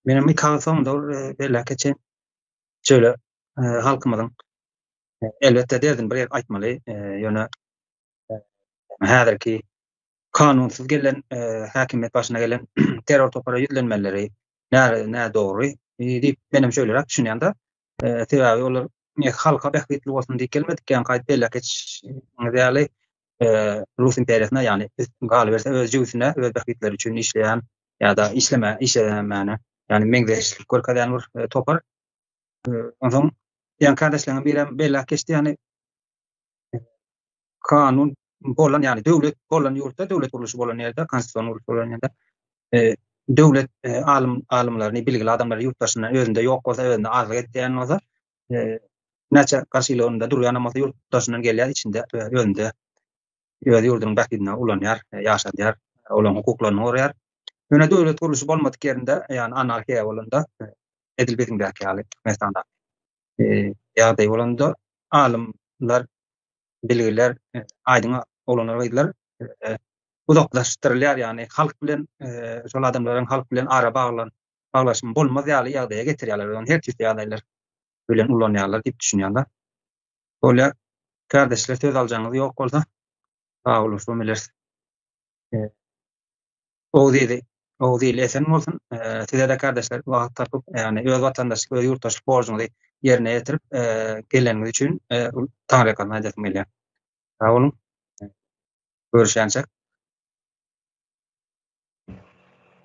Menem iki agyz soňda ol e, belläke çen şöyle e, halkymyzyň e, elbetde derdini bir aýtmaly, ýöne häzirki kanunsyz gelen häkimiýet başyna gelen terror topara ýüzlenmeleri nä nä dogry diýip menem şöýleräk düşünýän-de. Sebäbi olar ne halka bähbitli bolsun diýip gelmedik, ýa gaýt beýle geç ýaly Rus imperiýasyna, ýagny galyberse öz jübüsine, öz bähbitleri üçin işleýän ýa-da işleme, işlemäne, ýagny meňzeşlik görkezýän bir topar. Onsoň ýa-da kardeşleriň birem beýle geçdi, ýagny kanun bolan ýaly döwlet bolan ýurtda döwlet gurluşy bolan ýerde konstitusion gurluş bolan ýerde e, döwlet e, alym alymlaryny bilgili adamlary ýurt daşyndan özünde ýok bolsa özünde azlyk etýän bolsa e, näçe garşylygynda durýan bolsa ýurt daşyndan gelýär içinde e, özünde öz ýurdunyň bähbidine ulanýar e, ýaşadýar e, olaryň hukuklaryny goraýar ýöne döwlet gurluşy bolmadyk ýerinde ýani anarhiýa bolanda e, edil biziň bäki ýaly mesana ýagdaý bolanda alymlar, bilgiler aýdyň oglanlar gyzlar uzaklaşdyrylýar ýagny halk bilen şol adamlaryň halk bilen ara baglan baglaşygy bolmaz ýaly ýagdaýa getirýärler we ony her türlü ýagdaýlar bilen ulanýarlar diýip düşünýärler. Bolýar. Kardeşler söz aljagyňyz ýok bolsa sag boluň şu bileris. Oguz Oguz ili esen bolsun. Size-de kardeşler wagt tapyp, ýagny öz watandaşlyk, öz ýurtdaşlyk borjuňyzy ýerine ýetirip, geleniňiz üçin taňryýalkasyn aýdasym gelýär. Sag boluň. Görüşýänçäk.